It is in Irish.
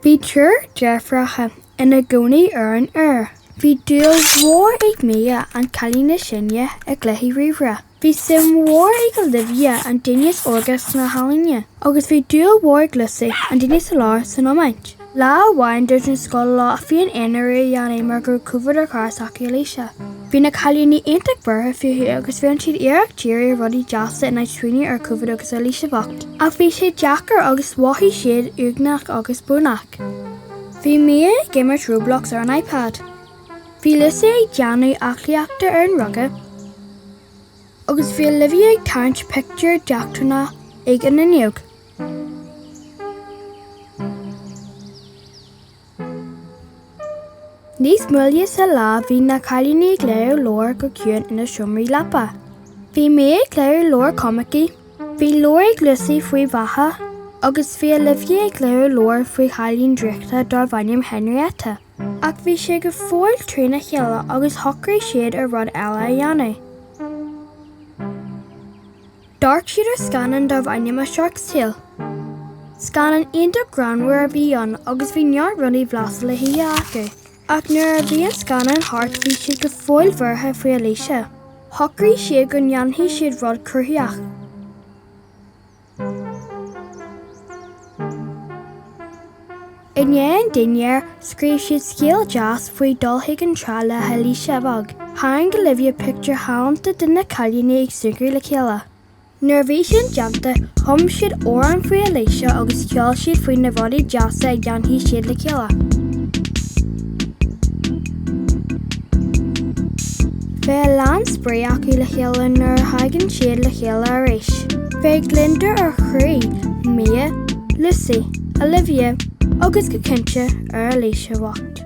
Bhí triúr deirfiúracha ina gcónaí ar an Iúr. Bhí dúil mhór ag Mia, an cailín is sine, i gcluichí ríomhaire. Bhí suim mhór ag Olivia, an duine is óige, sna healaíona. Agus bhí dúil mhór ag Lucy, an duine sa lár, san iomáint. Lá amháin dúirt an scoil leo féin-aonrú a dhéanamh mar go raibh Covid ar chara s'acu Alicia. Bhí na cailíní iontach buartha fúithi agus rinne siad iarracht díriú ar rudaí deasa in áit smaoineamh ar Covid agus ar Alicia bhocht. Ach bhí sé deacair agus mhothaigh siad uaigneach agus brónach. Bhí Mia ag imirt Roblox ar an iPad. Bhí Lucy ag déanamh aclaíochta ar an ruga. Agus bhí Olivia ag tarraingt pictiúr d'eachtrannach ag an fhuinneog. Níos moille sa lá bhí na cailíní ag léamh leabhar go ciúin ina seomraí leapa. Bhí Mia ag léamh leabhar coimicí, bhí leabhar ag Lucy faoi bheatha agus bhí Olivia ag léamh leabhar faoi chailín draíochta darbh ainm Henrietta. Ach bhí siad go fóill trína chéile agus shocraigh siad ar rud eile a dhéanamh. D'amharc siad ar scannán darbh ainm A Shark Tale. Scannán iontach greannmhar a bhí ann agus bhí neart rudaí blasta le hithe acu. Ach nuair a bhí an scannán thart bhí siad go fóill buartha faoi Alicia. Shocraigh siad go ndéanfaidh siad rud cruthaitheach. I ndiaidh an dinnéir, scríobh siad scéal deas faoi dul chuig an trá le hAlicia bheag. Tharraing Olivia pictiúir ghalánta de na cailíní ag súgradh le chéile. Nuair a bhí sin déanta, chum siad amhrán faoi Alicia agus cheol siad faoi na rudaí deasa a dhéanfaidh siad le chéile. Beidh a lán spraoi acu le chéile nuair a thagann siad le chéile arís. Beidh gliondar ar chroí Mia, Lucy, Olivia agus go cinnte ar Alicia bhocht.